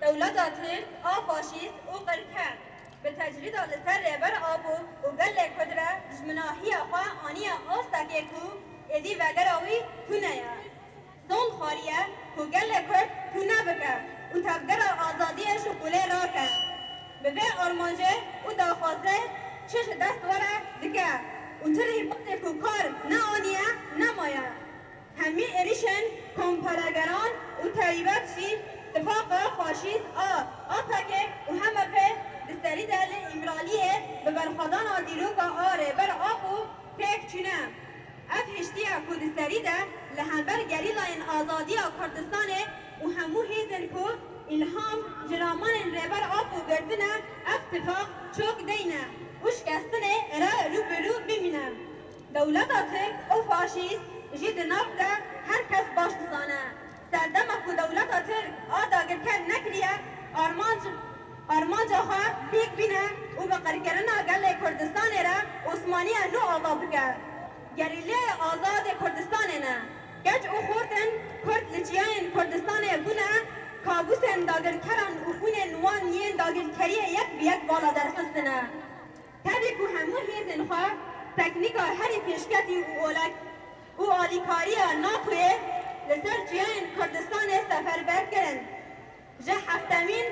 Dewleta Tirk a faşîst û qirker bi tecrîda li ser Rêber Apo û gelê Kurd re dijminahiya xwe aniye astekê ku êdî vegera wî tune ye. Tom xwariye ku gelê Kurd tune bike û tevgera azadiyê ji qûlê rake. Bi vê armancê û daxwazê çi ji dest were dike û ti rîbazê ku kar neaniye nemaye. Hemî êrîşên kompelegeran û terîbet jî tifaqa faşîst a APK û HMP di serî de li Îmraliyê bi berxwedana dîroka a Rêber Apo pêk çûne. Ev hiştiya ku di serî de li hember Gerîlayên Azadiya Kurdistanê û hemû hêzên ku îlham ji ramanên Rêber Apo girtine ev tifaq çok deyne û şikestinê re rûbirû bimîne. Dewleta Tirk û faşîst jî di nav de her kes baş dizane Serdema ku dewleta Tirk a dagirker nekiriye, armanc armanca xwe lîk bîne û bi qirkirina gelê Kurdistanê re Osmaniya nû ava bike. Gerîleyê Azad ê Kurdistanê ne. Keç û xortên Kurd li çiyayên Kurdistanê bûne kabûsên dagirkeran û xwînên wan yên dagirkeriyê yek bi yek vala derxistine. Tevî ku hemû hêzên xwe teknîka herî pêşketî û olak, û alîkariya NATOyê li ser çiyayên Kurdistanê seferber kirin. Ji heftemîn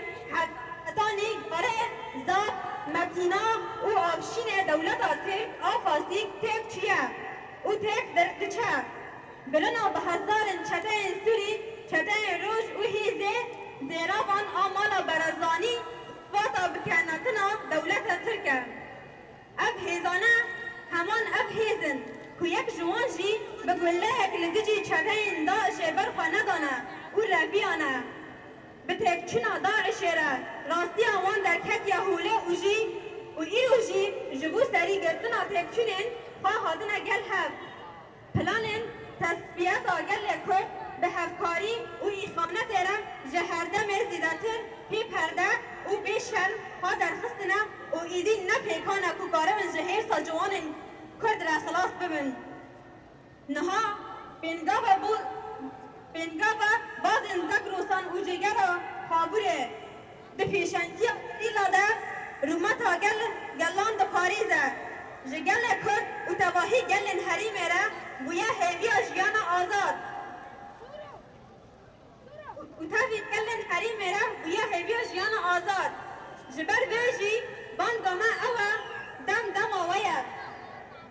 hetanî gare Zap, Metîna û Avşînê dewleta Tirk a Fasîk têk çûye û têk diçe. Birina bi hezarin çeteyên Sûrî, çeteyên Roj û hêzê zêravan a mala Barazanî sipata bikenatina dewleta Tirk e. Ev hêzane heman ev hêz in ku yek ji wan jî bi gulleyek li dijî çeteyên DAIŞ'ê ber xwe nedane û reviyane. Bi têkçûna DAIŞ'ê re rastiya wan derketiye holê û jî û îro jî ji bo serî girtina têkçûnên xwe hatine gel hev. Planên tesfiyeta gelê Kurd bi hevkarî û îhanetê re ji herdemê zîdetir pê perde û bê şerm ha derxistine û êdî ne pêkane ku karibin ji hêrsa ciwanên Kurd re xilas bibin. Niha pêngava bo pêngava bazên Zagros an û Jêgera Xabûrê, Di pêşengiya Îstîla de rûmeta gel gelan diparêze, ji gelê Kurd û tevahî gelên herîmê re bûye hêviya jiyana azad û tevî gelên herîmê re bûye hêviya jiyana azad. Ji ber vê jî banga me ew e, dem dema we ye.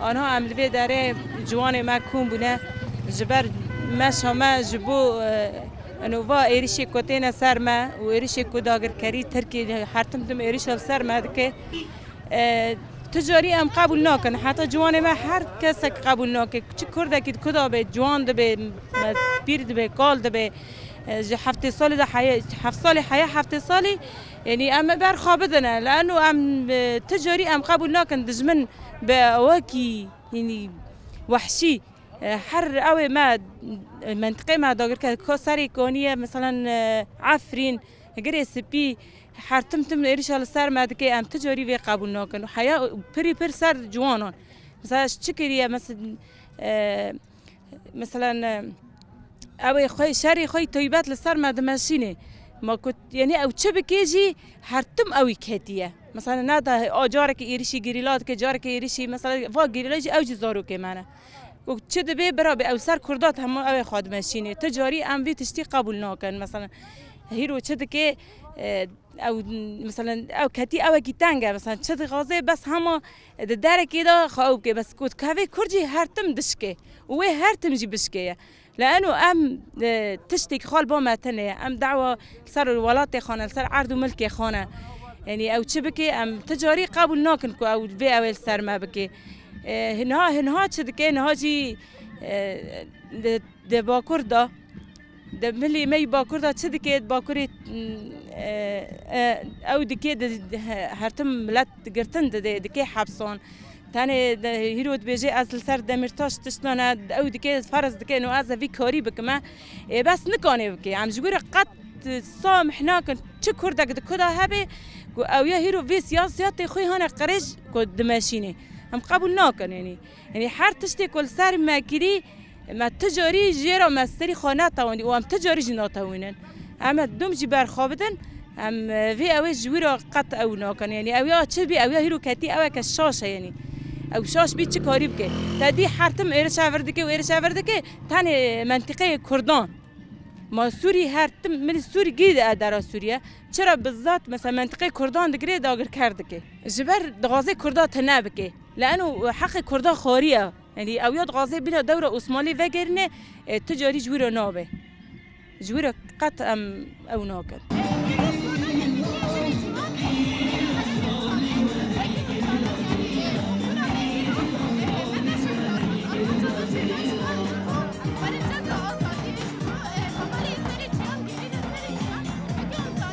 Anha em li vê derê ciwanê me kom bûne ji ber meşa me ji bo eno va êrişê ku têne ser me û êrişê ku dagirkerî Tirkî her tim tim êrişa li ser me dike tu carî em qebûl nakin heta ciwanê me her kesek qebûl nake çi kurdekî di ku de be ciwan dibe pîr dibe kal dibe ji heftê salî de heye heft salî heye heftê salî Yanî em ê berxwebidin lano em ti carî em qebûl nakin dijmin bi awakî yanî wehşî her ewê me mentiqê me dagirker ka serê kanî ye misalan efrîn girê spî her tim tim êrişa li ser me dike em ti carî vê qebûl nakin û heya pirî pir ser ciwanan misal ji çi kirî ye Meselen ew ê xwe şerê xwe toybet li ser me dimeşînê. Ma ku yani ew çi bikê jî her tim ew î ketiye. Mesela ne da a carekî êrişî gerîla dike, carekî êrişî mesela va gerîla jî ew jî zarokê me ne. Û çi dibê birabê ew ser kurda hemû ew ê xwe dimeşînê. Ti carî em vî tiştî qebûl nakin. Mesela hîro çi dikê ew mesela ew ketî ewekî teng e. Mesela çi dixwaze bes hema Di derekê de xwe ew bike bes ku divê kurd jî her tim dişike û wê her tim jî bişkeye. Li eno em tiştê xwe li ba me tune ye. Em dawa li ser welatê xwe ne, li ser erd û milkê xwe ne. Yanî ew çi bike em ti carî qebûl nakin ku ew vê ew ê li ser me bike. Niha niha çi dike niha jî di bakur de. Di milê me yî bakur de çi dike? Di bakurê ew dike hertim milet girtin dide, dike hepsan. Tenê hîro dibêje ez li ser Demîrtaş tişta ne, ew dike ferz dike no ez ê vî karî bikim e. Ê bes nikanê bike. Em ji we re qet samîh nakin. Çi kurdek di kuda hebe ku ew ya hîro vê siyasiyatê xwe hane qirêj ku dimeşînê. Em qebûl nakin. Yanî her tiştê ku li ser me kirî me tu carî jê re me serî xwe netewandî û em tu carî jî natewînin. Em ê dûm jî berxwe bidin. Em vê ewê ji wî re qet ew nakin. Yanî ew ya çi bî ew ya hîro ketî ew eke şaş e yanî. Ew şaş bî çi karî bike. Te dî her tim êriş e vir dike û êriş e vir dike tenê mentîqeyê kurdan. Ma sûrî her tim milî sûrî girî de dera sûrîye çi re bi zat mesela mentîqeyê kurdan digirê dagirker dike. Ji ber dixwaze kurda tune bike. Leano heqê kurdan xwarî ya. Yanî ew ya dixwaze bîra dewra Osmanlî vegerîne tu carî ji wî re nabe. Ji wî re qet em ew nakin.